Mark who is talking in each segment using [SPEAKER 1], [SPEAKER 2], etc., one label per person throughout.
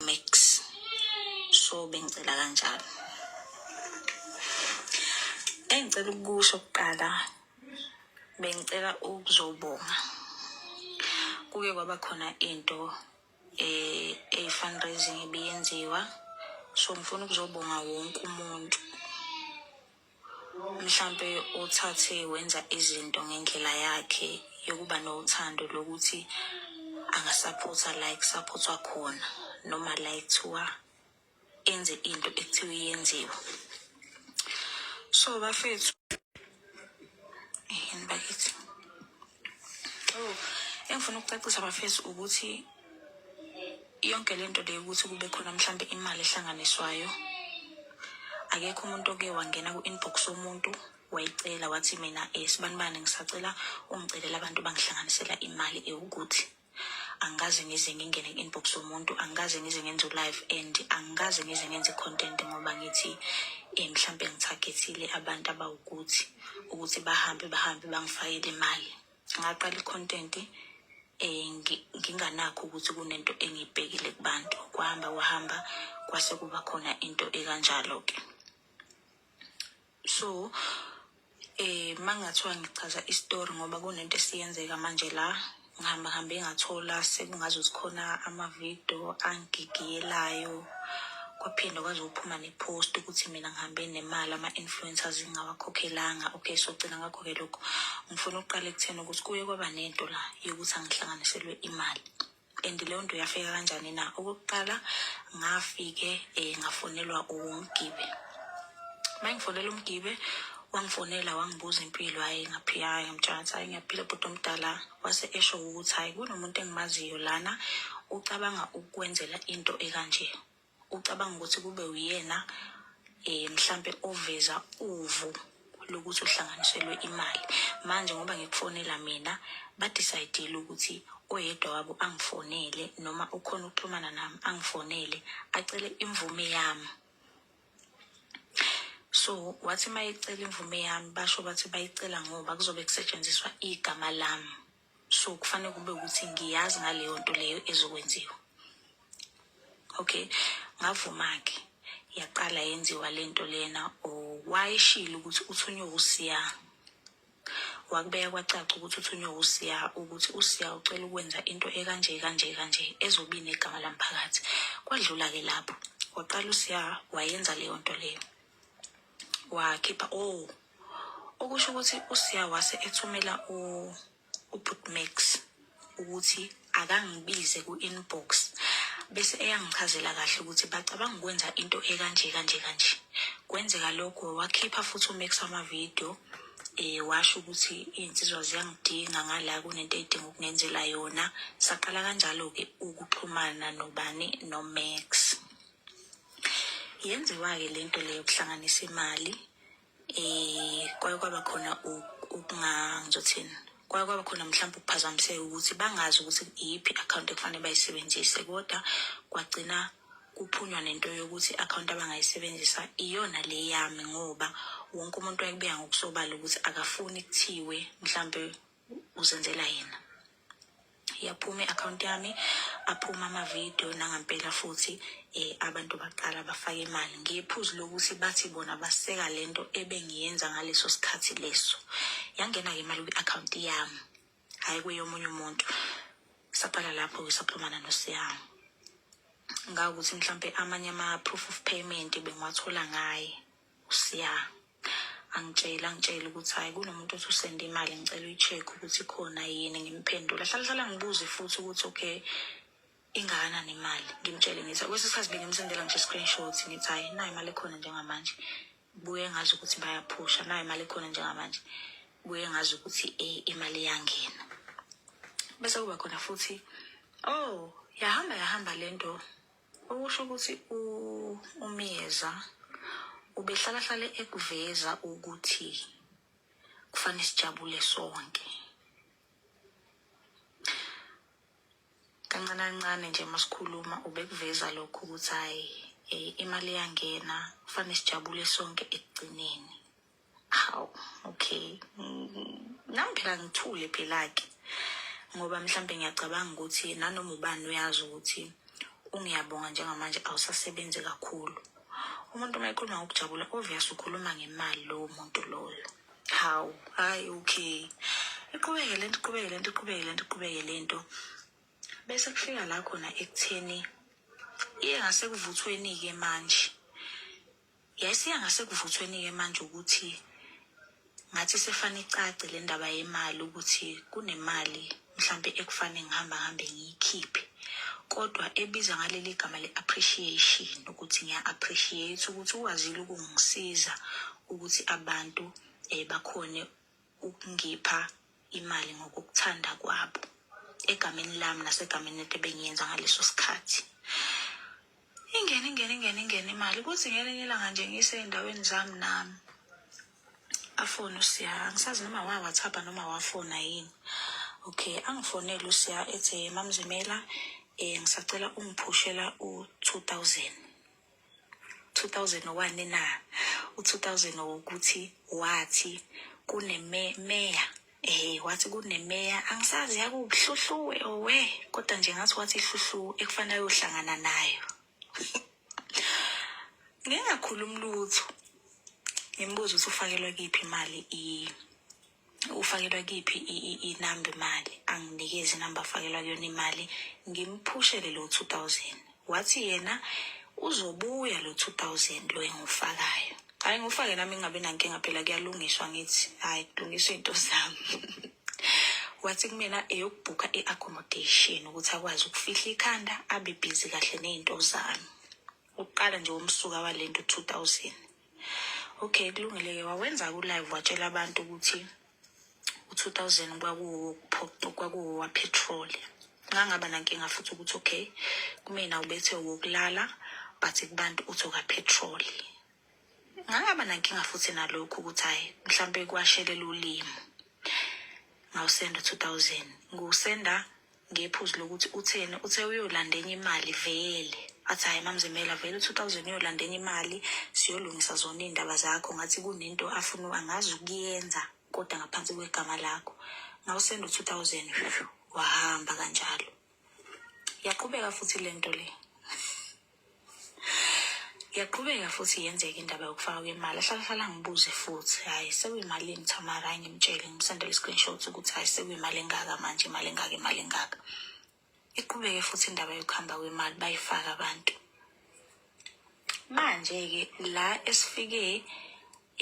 [SPEAKER 1] mix so bengicela kanjalo engicela ukusho kuqala bengicela ukuzobonga kuke kwaba khona into eh e fundraising ebiyenziwa so ngifuna ukuzobonga wonke umuntu mhlampe uthathe wenza izinto ngendlela yakhe yokuba nothando lokuthi angasaphotha la ekusaphothwa khona noma la ekuthiwa enze into ekuthiwa iyenziwe so bafethu yini bakithi Oh, engifuna ukucacisa bafesi ukuthi yonke le nto leyo ukuthi kube khona mhlawumbe imali ehlanganiswayo akekho umuntu oke wangena ku-inbox womuntu wayicela wathi mina um sibanibani ngisacela ungicelela abantu bangihlanganisela imali ewukuthi angikaze ngize ngingene inbox yomuntu angikaze ngize ngenze live and angikaze ngize ngenze content ngoba ngithi eh mhlambe ngithagethile abantu abawukuthi ukuthi bahambe bahambe bangifayele imali ngaqala icontent eh nginganakho ukuthi kunento engibhekile kubantu kwahamba kwahamba kwase kuba khona into ekanjalo ke so eh mangathiwa ngichaza istory ngoba kunento esiyenzeka manje la ngihamba hambe ngathola sekungaze zikhona amavidiyo angigigiyelayo kwaphinde kwaze uphuma nepost ukuthi mina ngihambe nemali ama-influencers ngingawakhokhelanga okay so gcina ngakho-ke lokho ngifuna ukuqala ekutheni ukuthi kuye kwaba nento la yokuthi angihlanganiselwe imali and leyo nto yafika kanjani na okokuqala ngafike um ngafonelwa umgibe uma ngifonela umgibe wangifonela wangibuza impilo hhayi ngaphiya hhayi ngimtshansi hhayi ngiyaphila bhuti omdala wase esho ukuthi hhayi kunomuntu engimaziyo lana ucabanga ukukwenzela into ekanje Ucabanga ukuthi kube uyena eh mhlambe oveza uvu lokuthi uhlanganiselwe imali. Manje ngoba ngikufonela mina badecide ukuthi oyedwa wabo angifonele noma ukhona ukuxhumana nami angifonele acele imvume yami. So wathi mayecela imvume yami basho bathi bayicela ngoba kuzobe kusetshenziswa igama lami. so kufanele kube ukuthi ngiyazi ngaleyo nto leyo ezokwenziwa okay ngavuma-ke yaqala yenziwa le nto lena wayeshile ukuthi uthunywe usiya wakubeka kwacaca ukuthi uthunywe usiya ukuthi usiya ucela ukwenza into ekanje kanje kanje ezobi negama lamphakathi kwadlula-ke lapho waqala usiya wayenza leyo nto leyo wakhipha o oh, Okusho ukuthi uSiya wase ethumela u- uButmax ukuthi akangibize ku-inbox bese eyangichazela kahle ukuthi bacabanga ukwenza into ekanje kanje kanje. Kwenzeka lokho wakhipha futhi uMax amavidiyo eh washo ukuthi iy'nsizwa ziyangidinga ngala kunento edinga ukungenzela yona. Saqala kanjalo-ke ukuxhumana nobani noMax. Yenziwa-ke le nto le yokuhlanganisa imali eh kwaye kwaba khona ukunga ngizothini kwaye kwaba khona mhlawumbe ukuphazamiseka ukuthi bangazi ukuthi iyiphi i-akhawunti ekufanele bayisebenzise kodwa kwagcina kuphunywa nento yokuthi i-akhawunti abangayisebenzisa iyona le yami ngoba wonke umuntu wayekubeka ngokusobala ukuthi akafuni kuthiwe mhlawumbe uzenzela yena yaphuma i-akhawunti yami aphuma amavidiyo nangampela futhi um abantu baqala bafake imali ngephuzu lokuthi bathi bona baseka le nto ebengiyenza ngaleso sikhathi leso yangena-ke imali kwi-akhawunti yami hhayi kweyomunye umuntu saqala lapho-ke saxhumana nosiyami ngawukuthi mhlampe amanye ama-proof of payment bengiwathola ngaye usiya angitshela angitshela ukuthi hhayi kunomuntu othi usende imali ngicela uyi-check ukuthi khona yini ngimphendula hlala hlala ngibuze futhi ukuthi okay ingakanani imali ngimtshele ngithi kwesinye isikhathi bengimsendela ngisho i-screenshot ngithi hhayi nayo imali ekhona njengamanje buye ngazi ukuthi bayaphusha nayo imali ekhona njengamanje buye ngazi ukuthi eh, imali iyangena bese kuba khona futhi oh yahamba yahamba le nto Okusho ukuthi uMyeza ubehlalahlale ekuveza ukuthi kufanele sijabule sonke. Kancane kancane nje masikhuluma ubekuveza lokho ukuthi hayi eh, imali iyangena kufanele sijabule sonke ekugcineni. hawu okay nami phela ngithule phela-ke ngoba mhlawumbe ngiyacabanga ukuthi nanoma ubani uyazi ukuthi ungiyabonga njengamanje awusasebenzi kakhulu umuntu uma ekhuluma ngokujabula obvious ukhuluma ngemali lowo muntu loyo hawu hayi okay iqhubeke lento iqhubeke lento iqhubeke lento iqhubeke lento bese kufika la khona ekutheni iye ngasekuvuthweni-ke manje Yayisiya ngasekuvuthweni-ke manje ukuthi ngathi sefane icace le ndaba yemali ukuthi kunemali mhlampe ekufane ngihamba ngihambe ngiyikhiphe kodwa ebiza ngaleli gama le-appreciation ukuthi ngiya-appreciate ukuthi ukwazile ukungisiza ukuthi abantu um bakhone ukungipha imali ngokukuthanda kwabo egameni lami nasegameni lento ebengiyenza ngaleso sikhathi ingene ingene ingene ingene imali kuthi ngelinye ilanga nje ngisey'ndaweni zami nami afone usiya angisazi noma wawathapha noma wafona yini okay angifonele usiya ethi mamzimela um ngisacela ungiphushela u-two thousand 2001 na u-2000 ukuthi wathi kunemeya eh wathi kunemeya angisazi yakuhluhluwe owe kodwa nje ngathi wathi ihluhlu ekufanele uyohlangana nayo ngingakhulumi lutho ngimbuza ukuthi ufakelwa kiphi imali i ufakelwa kiphi inamba imali anginikeze inamba afakelwa kuyona imali ngimphushele lo 2000 wathi yena uzobuya lo 2000 lo engufakayo hayi ngufake nami ngingabi nankinga phela kuyalungiswa ngithi hayi kulungiswa into zami wathi kumina eyokubhukha i-accommodation ukuthi akwazi ukufihla ikhanda abe bhizi kahle ney'nto zami ukuqala nje womsuka walento 2000 Okay kulungile-ke wawenza ku-live watshela abantu ukuthi u-two thousand kwakuwowapetroli ngangaba nankinga futhi ukuthi okay kumina ubethe wokulala but kubantu uthi okapetroli ngangaba nankinga futhi nalokhu ukuthi hhayi mhlawumpe kwashelela ulimi ngawusenda u-two thousand ngiwusenda ngephuzu lokuthi utheni uthe uyolanda enye imali vele athi hhayi mamzimela vele u-two thousand uyolanda enye imali siyolungisa zona iy'ndaba zakho ngathi kunento afuna angazi ukuyenza kodwa ngaphansi kwegama lakho ngawusenda u-two thousand wahamba kanjalo yaqhubeka futhi le nto le Yaqhubeka futhi yenzeka indaba yokufaka kwemali ahlalahlala ngibuze futhi hhayi sekuyimalini Thamara hayi ngimtshele ngimsendele i-screenshot ukuthi hhayi sekuyimali engaka manje imali engaka imali engaka iqhubeke futhi indaba yokuhamba kwemali bayifaka abantu manje-ke la esifike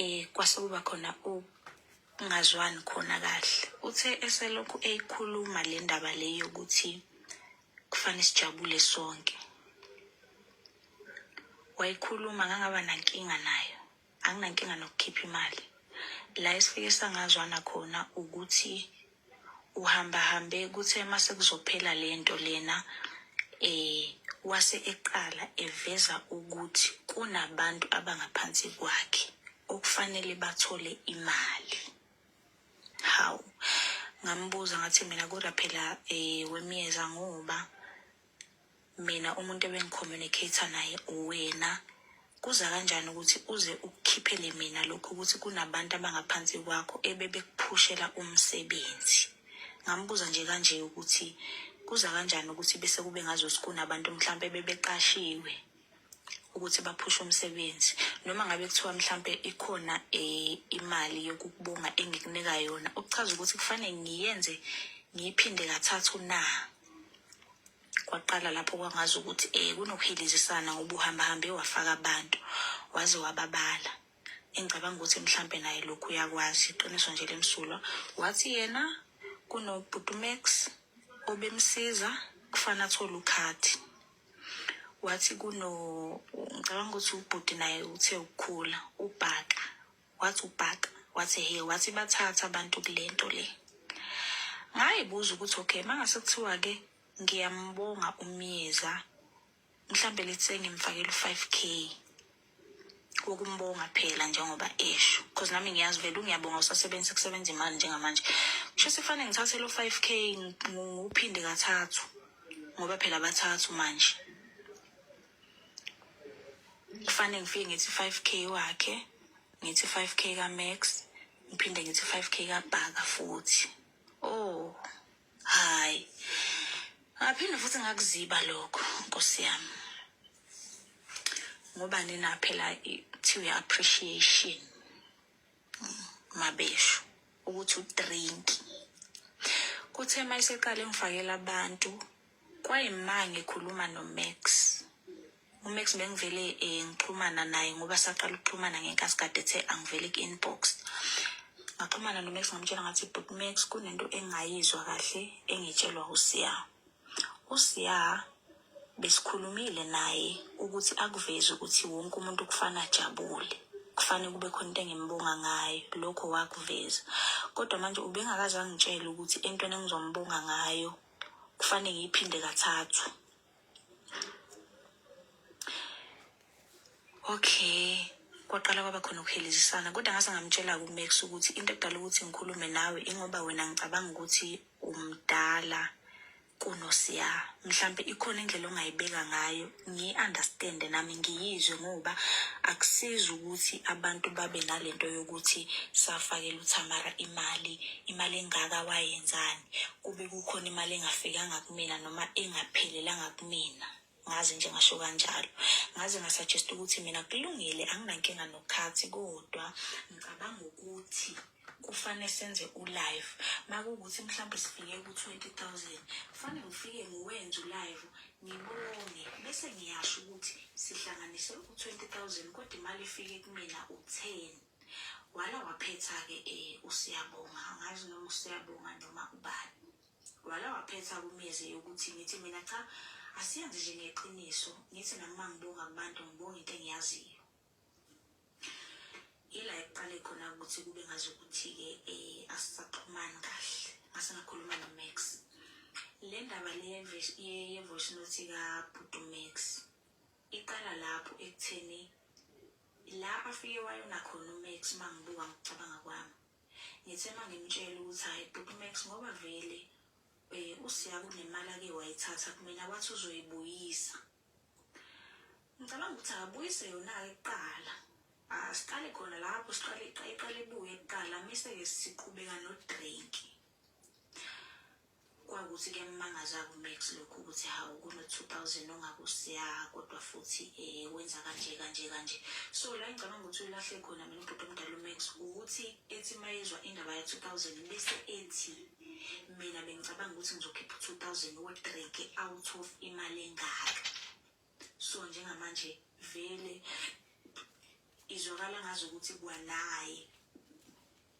[SPEAKER 1] um kwase kuba khona ukungazwani khona kahle uthe eselokhu eyikhuluma le ndaba le yokuthi Kufanele sijabule sonke. Wayikhuluma ngangaba nankinga nayo. Anginankinga nokukhipha imali. La esifike sangazwana khona ukuthi uhamba hambe kuthe mase kuzophela lento lena eh wase eqala eveza ukuthi kunabantu abangaphansi kwakhe okufanele bathole imali. hawu ngambuza ngathi mina kodwa phela um wemyeza ngoba mina umuntu ebengicommunicate naye uwena kuza kanjani ukuthi uze ukukhiphele mina lokho ukuthi kunabantu abangaphansi kwakho ebebekuphushela umsebenzi ngambuza nje kanje ukuthi kuza kanjani ukuthi bese kube ngazothi kunabantu mhlawumpe bebeqashiwe ukuthi baphushe umsebenzi noma ngabe kuthiwa mhlampe ikhona eh, imali yokukubonga engikunika yona ukuchaza ukuthi kufanele ngiyenze ngiyiphinde kathathu na kwaqala lapho kwangazi ukuthi eh kunokuhilizisana ngoba uhamba hambe wafaka abantu waze wababala engicabanga ukuthi mhlampe naye lokhu uyakwazi iqiniso nje lemsulwa wathi yena kunobhutumax obemsiza kufana athole ukhadi wathi kuno ngicabanga ukuthi ubhuti naye uthe ukukhula ubhaka wathi ubhaka wathi he wathi bathatha abantu kule nto le ngayibuza ukuthi okay mangase kuthiwa-ke ngiyambonga umyeza mhlawumbe lethe ngimfakela u-five k ukumbonga phela njengoba esho because nami ngiyazi vele ungiyabonga usasebenzisa kusebenza imali njengamanje kusho sefane ngithathe lo 5k ngiwuphinde kathathu ngoba phela bathathu manje kufanele ngifike ngithi 5k wakhe ngithi 5k ka-max ngiphinde ngithi 5k kabhaka futhi oh Hayi. Ngaphinde futhi ngakuziba lokho Nkosi yami. Ngoba nina phela kuthiwa appreciation mabesho ukuthi udrink. Kuthe mayiseqale ngifakela abantu kwayimange khuluma no Max. uMax bengivele eh, ngixhumana naye ngoba saqala ukuxhumana ngenkathi kade ethe angivele ku-inbox ngaxhumana noMax ngamtshela ngathi but Max kunento engayizwa kahle engitshelwa uSiya uSiya besikhulumile naye ukuthi akuveze ukuthi wonke umuntu kufana ajabule kufanele kube khona into engimbonga ngayo lokho wakuveza kodwa manje ubengakaze angitshele ukuthi entweni engizombonga ngayo kufanele ngiyiphinde kathathu okay kwaqala kwaba khona ukuhelezisana kodwa ngase ngamtshela kumax ukuthi into edala ukuthi ngikhulume nawe ingoba wena ngicabanga ukuthi umdala kunosiya mhlampe ikhona indlela ongayibeka ngayo ngiyi-understande nami ngiyizwe ngoba akusizi ukuthi abantu babe nalento yokuthi safakela uthamara imali imali engaka wayenzani kube kukhona imali engafikanga kumina noma engaphelelanga kumina ngaze nje ngasho kanjalo ngaze ngasuggest ukuthi mina kulungile anginankinga nokhathi kodwa ngicabanga ukuthi kufanele senze ulive makuwukuthi mhlawumbe sifike ku-twenty thousand kufanele ngifike ngiwenze ulive ngibone bese ngiyasho ukuthi sihlanganise u-twenty thousand kodwa imali ifike kumina u-ten Wala waphetha-ke um uSiyabonga, angazi noma uSiyabonga noma ubani. Wala waphetha kumeze yokuthi ngithi mina cha asiyenze nje ngeqiniso, ngithi nami uma ngibonga kubantu ngibonga into engiyaziyo. Yila ekuqale khona ukuthi kube ngazi ukuthi-ke um asisaxhumani kahle, ngase ngakhuluma noMax. Le ndaba le ye-voice note kabhuti uMax iqala lapho ekutheni Ila afike wayona khona uMax mangibuka ngokucabanga kwami. Ngithe mangimtshela ukuthi hayi bhuti Max ngoba vele eh usiya kunemali ake wayithatha kumina wathi uzoyibuyisa. Ngicabanga ukuthi akabuyise yona ke kuqala. Asiqale khona lapho siqale iqale ibuye kuqala mise ke siqhubeka no drink. Kwakuthi kuyamangaza kuMax lokhu ukuthi hawu kuno-2000 ongakusiya kodwa futhi um wenza kanje kanje kanje. So la engicabanga ukuthi ulahle khona mina ubhuti omdala uMax ukuthi ethi uma yezwa indaba ya-2000 bese ethi mina bengicabanga ukuthi ngizokhipha u-2000 wodreke out of imali engaka. so njengamanje vele izwakala ngazi ukuthi kwanaye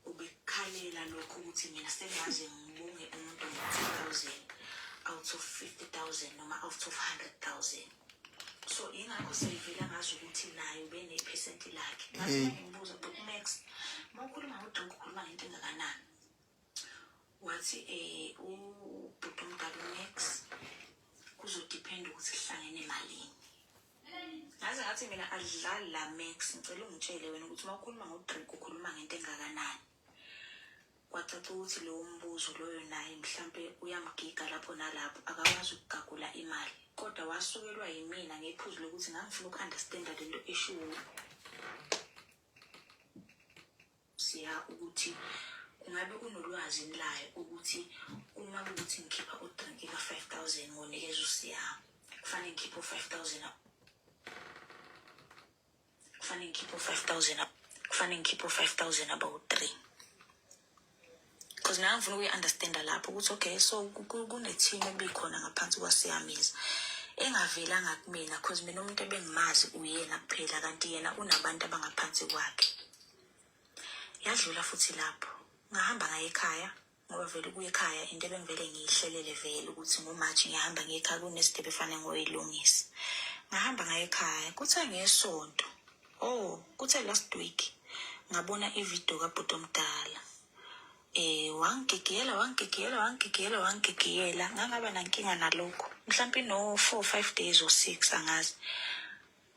[SPEAKER 1] ubekhalela lokho ukuthi mina sengaze ngibonge umuntu ngo-two thousand out of fifty thousand noma out of hundred thousand so ingakho seyivela ngazi ukuthi naye ubenephesenti lakhe ngaze ngimbuza but max ma ukhuluma ngodonke ukhuluma ngento engakanani wathi um ubhuti omdala unex kuzodiphenda ukuthi kuhlangene emalini ngaze ngathi mina adlali la max ngicela ungitshele wena ukuthi uma ukhuluma ngodrink ukhuluma ngento engakanani kwacaca ukuthi lowo mbuzo loyo naye mhlampe uyamgiga lapho nalapho akakwazi ukugagula imali kodwa wasukelwa yimina ngephuzu lokuthi ngangifuna uku-understanda lento eshiwo siya ukuthi ngabe unolwazi layo ukuthi uma ukuthi ngikhipha udrinki ka-five thousand ngonikeza usiya kufanele ngikhiphe u-five thousand kufanele ngikhiphe u-five thousand kufanele ngikhiphe u-five thousand abawu-three because mina ngifuna ukuyi-understanda lapho ukuthi okay so kune-team ebikhona ngaphansi kwasiyamiza engavelanga kumina because mina umuntu ebengimazi uyena kuphela kanti yena unabantu abangaphansi kwakhe yadlula futhi lapho ngahamba ngaye ekhaya ngoba vele ukuya ekhaya into ebengivele ngiyihlelele vele ukuthi ngomaji ngiyahamba ngiyekhaya kunesidebe efanele ngoyilungisa ngahamba ngaye ekhaya kuthiwa ngesonto Oh, kuthe last week ngabona ivideo kabhuti omdala eh wangigigiyela wangigigiyela wangigigiyela wangigigiyela ngangaba nankinga nalokho mhlawumbe no-four five days or six angazi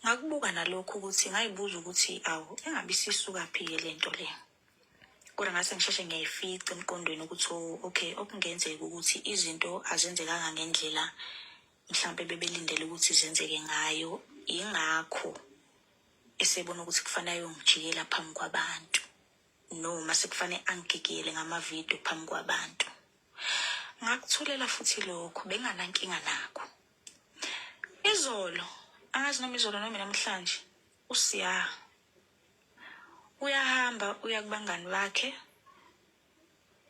[SPEAKER 1] ngakubuka nalokho ukuthi ngayibuza ukuthi awu engabe isisukaphi-ke le nto le kodwa ngase ngisheshe ngiyayifica emqondweni ukuthi oh, okay okungenzeka ukuthi izinto azenzekanga ngendlela mhlawumbe bebelindele ukuthi zenzeke ngayo yingakho esebona ukuthi kufanele ayongijikela phambi kwabantu noma sekufanele angigigiyele ngamavidiyo phambi kwabantu ngakuthulela futhi lokho benganankinga nakho izolo angazi noma izolo noma namhlanje usiya uyahamba uya kubangani bakhe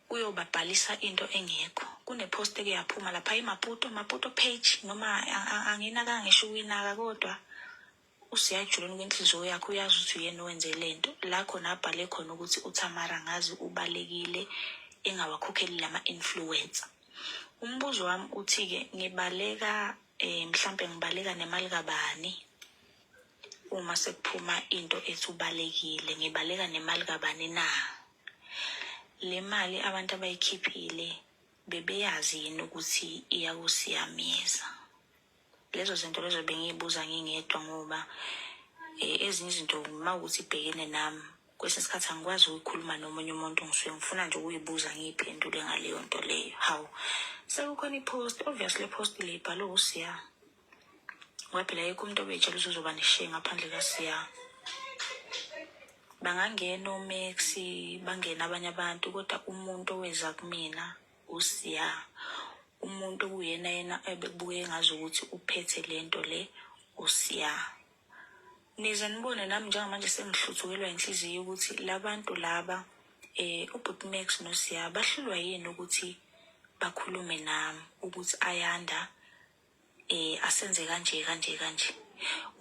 [SPEAKER 1] kuyobabhalisa into engekho kunepost eke yaphuma lapha imaputo maputo page noma anginaka ngisho ukuyinaka kodwa usiyajuleni kwenhliziyo yakho uyazi ukuthi uyena owenze le nto la khona abhale khona ukuthi uthamara ngazi ubalekile engawakhokheli lama-influencer umbuzo wami uthi-ke ngibaleka um mhlampe ngibaleka nemali kabani uma sekuphuma into ethi ubalekile ngibaleka nemali kabani na Le mali abantu abayikhiphile bebeyazi yini ukuthi iyakusiyamisa? Lezo zinto lezo bengiyibuza ngingedwa ngoba eh, ezinye izinto uma ukuthi ibhekene nami kwesinye isikhathi angikwazi ukuyikhuluma nomunye umuntu ngisuke ngifuna nje ukuyibuza ngiyiphendule ngaleyo nto leyo hawu sekukhona i-post obviously i-post le ibhalwe usiya ngoba phela yekho umuntu obetshela ukuthi uzoba neshiye ngaphandle kasiya bangangena omax bangena abanye abantu kodwa umuntu oweza kumina usiya umuntu kuyena yena ebekubuke ngazi ukuthi uphethe le nto le usiya nize nibone nami njengamanje sengihluthukelwa inhliziyo ukuthi labantu laba eh ubhuti Max noSiya bahlulwa yini ukuthi bakhulume nami ukuthi ayanda eh asenze kanje kanje kanje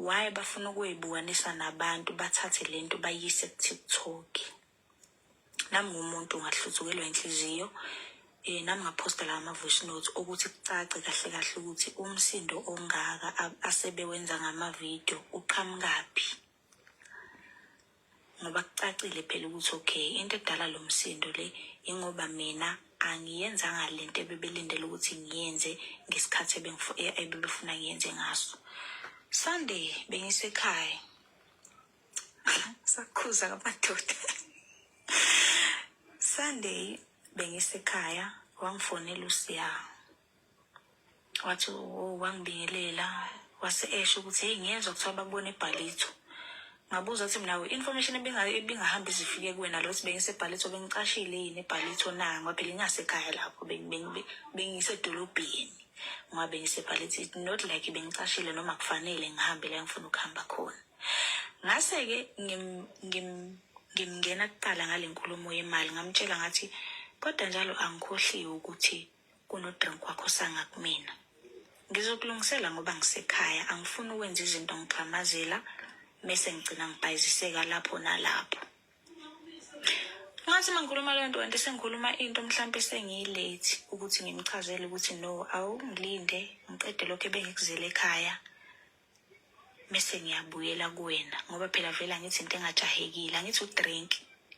[SPEAKER 1] why bafuna ukuyibukanisa nabantu bathathe lento bayise ku TikTok nami ngumuntu ngahluzukelwa inhliziyo eh nami ngaphosta la ama voice notes ukuthi kucace kahle kahle ukuthi umsindo ongaka asebewenza ngama video uqhamukaphi ngoba kucacile phela ukuthi okay into edala lo msindo le ingoba mina angiyenzanga le nto ebebelindele ukuthi ngiyenze ngesikhathi e-, ebebefuna ngiyenze ngaso sunday bengisekhaya sakhuza ngamadoda sunday bengisekhaya wangifonela usiya wathi oh, wangibingelela wase esho ukuthi heyi ngiyezwa kuthiwa bakubona ebhalitho ngabuza ukuthi mina i-information ebingahambi zifike kuwena lo ukuthi bengisebhalitho bengicashile yini ebhalitho na ngoba phela ingasekhaya lapho bengisedolobheni ngoba bengisebhalitho not like bengicashile noma kufanele ngihambe la ngifuna ukuhamba khona ngase-ke ngimngena kuqala ngale nkulumo yemali ngamtshela ngathi kodwa njalo angikhohliwe ukuthi kunodrink wakho sanga kumina ngizokulungisela ngoba ngisekhaya angifuni ukwenza izinto ngigxamazela mese ngigcina ngibhayiziseka lapho nalapho ngathi mangikhuluma leyo nto kanti sengikhuluma into mhlawumpe sengiyilethi ukuthi ngimchazele ukuthi no awungilinde ngiqede lokho ebengikuzele ekhaya mese ngiyabuyela kuwena ngoba phela vele angithi into engajahekile angithi udrink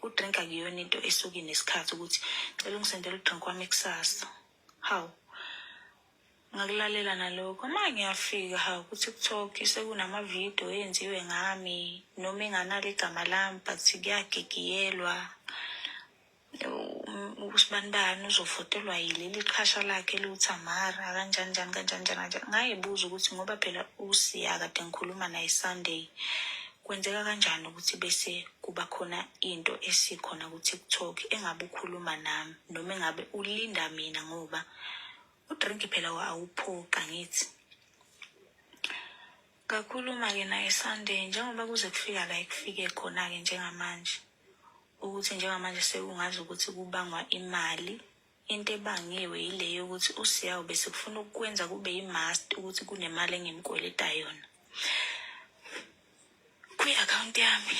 [SPEAKER 1] udrink akuyona into esuke nesikhathi ukuthi cela ungisendela udrink wami kusasa hawu ngakulalela nalokho uma ngiyafika ha ukuthi kuthok sekunamavidiyo eyenziwe ngami noma enganalo igama lami but kuyagigiyelwa usibanibani uzovotelwa yileli qhasha lakhe liwuthamara kanjani njani kanjani njani kanjani ngayibuza ukuthi ngoba phela usiya kade ngikhuluma naye sunday kwenzeka kanjani ukuthi bese kuba khona into esikhona ku-tiktok engabe ukhuluma nami noma engabe ulinda mina ngoba udrink phela awuphoqa ngithi Ngakhuluma-ke naye Sunday njengoba kuze kufika la ekufike khona-ke njengamanje ukuthi njengamanje sekungazi ukuthi kubangwa imali into ebangiwe yile yokuthi usiya ube sekufuna ukukwenza kube yi-mast ukuthi kunemali engimkweleta yona kwi-akhawunti yami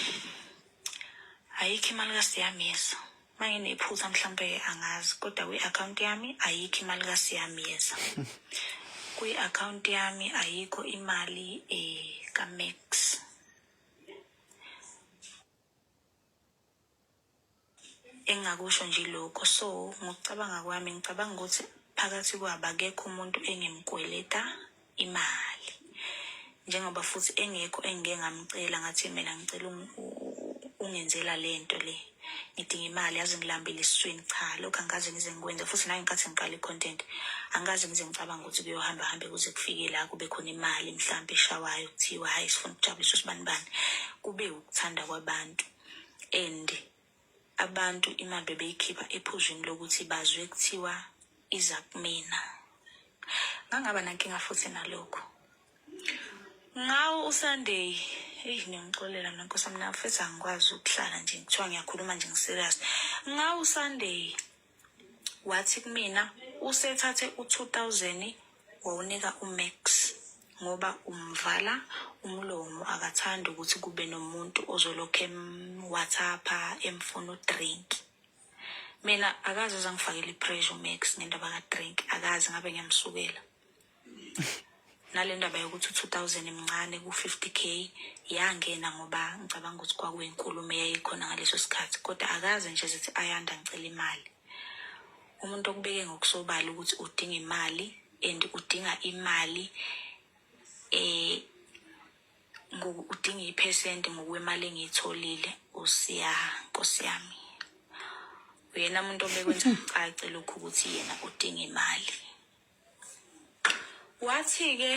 [SPEAKER 1] ayikho imali kasiyamisa Manginephutha mhlampe angazi kodwa kwi-akhawunti yami ayikho imali kaSiyamyeza. Kwi-akhawunti yami ayikho imali eh kaMax. Engingakusho nje lokho so ngokucabanga kwami ngicabanga ukuthi phakathi kwabo akekho umuntu engimkweleta imali njengoba futhi engekho engike ngamcela ngathi mina ngicela ungenzela le nto le ngidinga imali yazi ngilambile esiswini cha lokhu angikaze ngize ngikwenze futhi nangikathi ngiqala i-content angikaze ngize ngicabanga ukuthi kuyohamba hambe kuze kufike la kube khona imali mhlawumbe eshawayo kuthiwa hhayi sifuna ukujabulisa usibanibani kube ukuthanda kwabantu and abantu imali bebeyikhipha ephuzwini lokuthi bazwe kuthiwa iza kumina ngangaba nankinga futhi nalokho ngawo usunday eyi ngiyangixolela mna nkosi mina futhi angikwazi ukuhlala nje kuthiwa ngiyakhuluma nje ngiserious ngawo usunday wathi kumina usethathe u-2000 wawunika umax ngoba umvala umlomo akathandi ukuthi kube nomuntu ozolokhu emwhatsapha emfuna udrink mina akaze zangifakela i-pressure umax ngendaba kadrink akaze ngabe ngiyamsukela nale ndaba yokuthi u-two thousand mncane ku-fifty k yangena ngoba ngicabanga ukuthi kwakuyinkulumo eyayikhona ngaleso sikhathi kodwa akaze nje zithi ayanda ngicela imali umuntu okubeke ngokusobala ukuthi udinga imali and udinga imali eh udinga iphesenti ngokwemali engiyitholile usiya nkosi yami uyena muntu obekwenza kucace lokhu ukuthi yena udinga imali Wathi-ke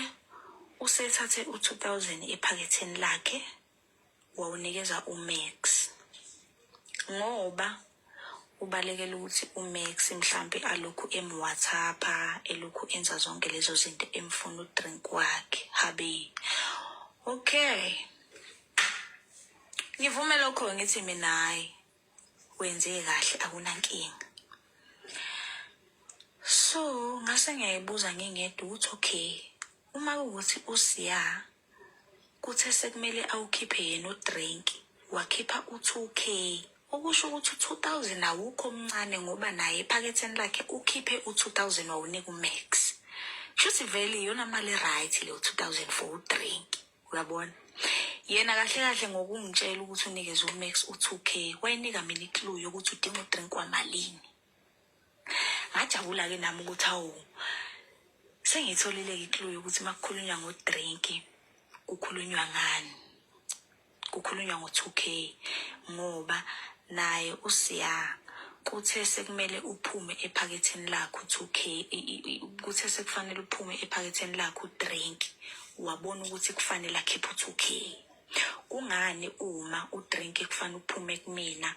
[SPEAKER 1] usethathe u-2000 ephaketheni lakhe wawunikeza uMax ngoba ubalekela ukuthi uMax mhlampe alokhu emwhatsapha elokhu enza zonke lezo zinto emfuna udrink wakhe habe okay ngivume lokho ngithi mina hayi wenze kahle akunankinga so ngase ngiyayibuza ngingedwa ukuthi okay uma kuwukuthi usiya kuthe sekumele awukhiphe yena udrink wakhipha u-two k okusho ukuthi u-two thousand awukho omncane ngoba naye ephaketheni lakhe ukhiphe u-two thousand wawunika umax shuthi vele iyona mali e-right leyo two thousand for udrink uyabona yena kahle kahle ngokungitshela ukuthi unikeze umax u-two k wayinika mina iclue yokuthi udinga udrink wamalini ngajabula-ke nami ukuthi awu sengiyitholile-ke iclue yokuthi uma kukhulunywa ngodrinki kukhulunywa ngani kukhulunywa ngo-two k ngoba naye usiya kuthe sekumele uphume ephaketheni lakho u-two k kuthe sekufanele uphume ephaketheni lakho udrink wabona ukuthi kufanele akhiphe u-two k kungani uma udrink kufanele uphume kumina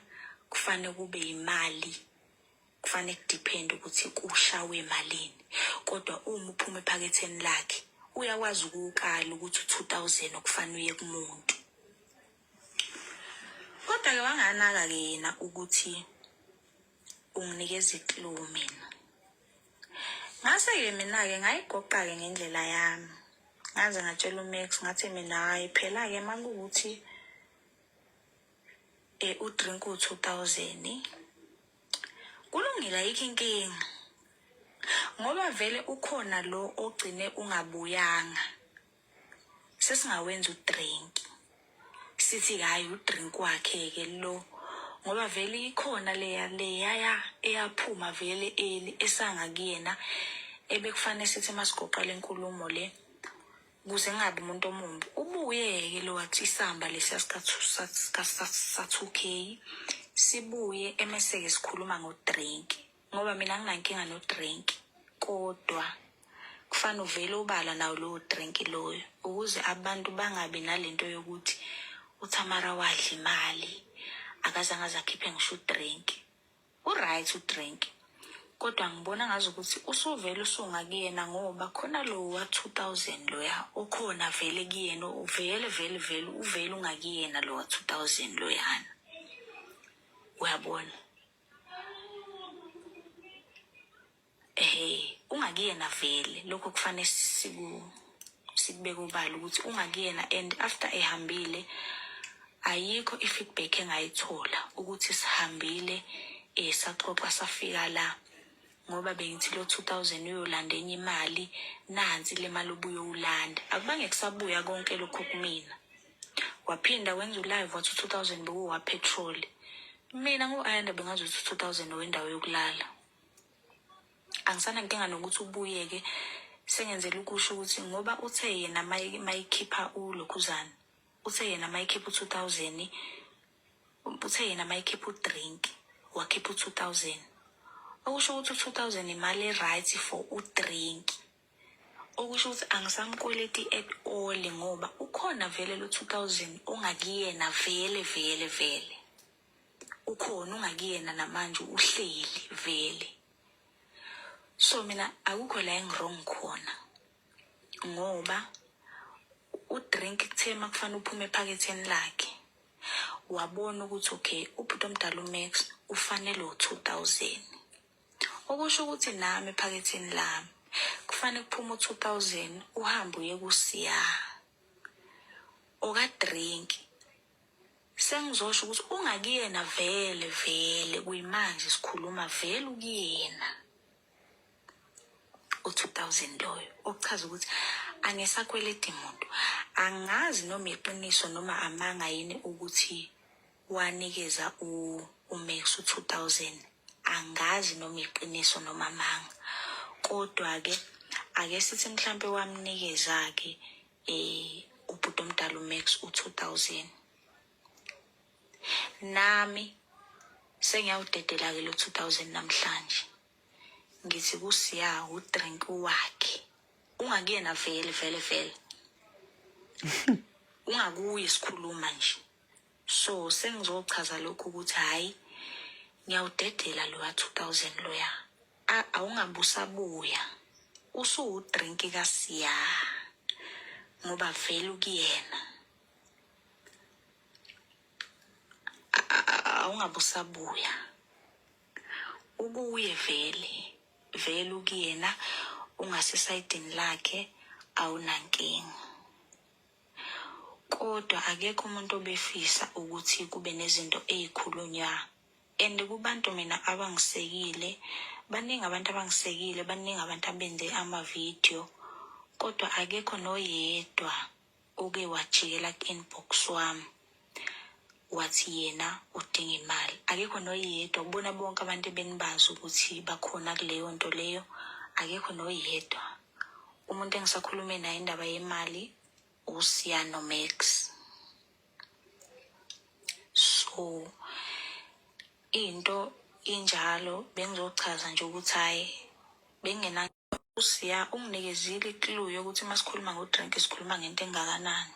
[SPEAKER 1] kufanele kube yimali kufanele kudiphende ukuthi kushawe malini kodwa uma uphuma ephaketheni lakhe uyakwazi ukuwukala ukuthi u-two thousand okufanele uye kumuntu kodwa-ke wanganaka-ke yena ukuthi unginikeza iclue mina ngase-ke mina-ke ngayigoqa-ke ngendlela yami ngaze ngatshela umax ngathi mina hhayi phela-ke uma kuwukuthi um udrink uwu-two thousand kulungile ayikho inkinga ngoba vele ukhona lo ogcine ungabuyanga sesingawenza udrink sithi hhayi udrink wakhe-ke lo ngoba vele ikhona leya leyaya eyaphuma vele eli esanga kuyena ebekufanele sithi masigoqa le nkulumo le kuze kungabi umuntu omumbi ubuye-ke lo wathi isamba lesiya sika-two k sibuye emese-ke sikhuluma ngodrink ngoba mina nginankinga no-drink kodwa kufanele uvele ubala nawo lowo drink loyo ukuze abantu bangabi nalento yokuthi uthamara wadla imali akazange azakhiphe ngisho udrink u-right udrink kodwa ngibona ngazi ukuthi usuvele usunga kuyena ngoba khona lo wa-two thousand loya okhona vele kuyena uvele vele vele uvele ungakuyena lo wa-two thousand loyana uyabona Ehhe ungakuyena vele lokho kufanele siku sikubeke ubala ukuthi ungakuyena and after ehambile ayikho i-feedback engayithola ukuthi sihambile eh saxoxa safika la ngoba bengithi lo 2000 uyolanda enye imali nansi le mali obuyowulanda akubange kusabuya konke lokho kumina waphinda wenza ulive wathi u-two thousand bekuwapetroli mina ngu-ayanda bengazi ukuthi u-two thousand owendawo yokulala angisanankinga nokuthi ubuyeke sengenzela ukusho ukuthi ngoba uthe yena mayikhipha ulokhuzana uthe yena mayikhipha u-two thousand uthe yena mayikhipha udrink wakhipha u-two thousand okusho ukuthi u-two thousand imali e-right for udrink okusho ukuthi angisamkweleti at all ngoba ukhona vele lo 2000 ongakuyena vele vele vele ukhona ungakuyena namanje uhleli vele so mina akukho la engirong khona ngoba udrink kuthe uma kufanele uphume ephaketheni lakhe wabona ukuthi okay ubhuti omdala umax ufanele u-2000 okusho ukuthi nami ephaketheni lami kufanele kuphume u-two thousand uhambe uye kusiya okadrink sengizosho ukuthi ungakuyena vele vele kuyimanje sikhuluma vele ukuyena u-two thousand loyo okuchaza ukuthi angisakweledi muntu angazi noma iqiniso noma amanga yini ukuthi wanikeza u uMax u 2000 angazi noma iqiniso noma amanga kodwa ke ake sithi mhlampe wamnikeza ke eh ubhuti omdala uMax u 2000 nami sengiyawudedela ke lo 2000 namhlanje ngithi kusiya udrink wakhe ungakuyena vele vele vele ungakuye sikhuluma nje so sengizochaza lokhu ukuthi hhayi ngiyawudedela lowa 2000 loya awungabusabuya usuwudrinki kasiya ngoba vele ukuyena awungabusabuya ukuye vele vele ukuyena ungasesayidini lakhe awunankinga Kodwa akekho umuntu obefisa ukuthi kube nezinto ezikhulunywa and kubantu mina abangisekile baningi abantu abangisekile baningi abantu abenze ama-video kodwa akekho noyedwa oke wajikela ku-inbox wami wathi yena udinga imali akekho noyedwa ubona bonke abantu ebenibazi ukuthi bakhona kuleyo nto leyo akekho noyedwa umuntu engisakhulume naye indaba yemali usiyano max so into injalo bengizochaza nje ukuthi hhayi bengena usiya unginikezile iklu yokuthi uma sikhuluma ngodrink sikhuluma ngento engakanani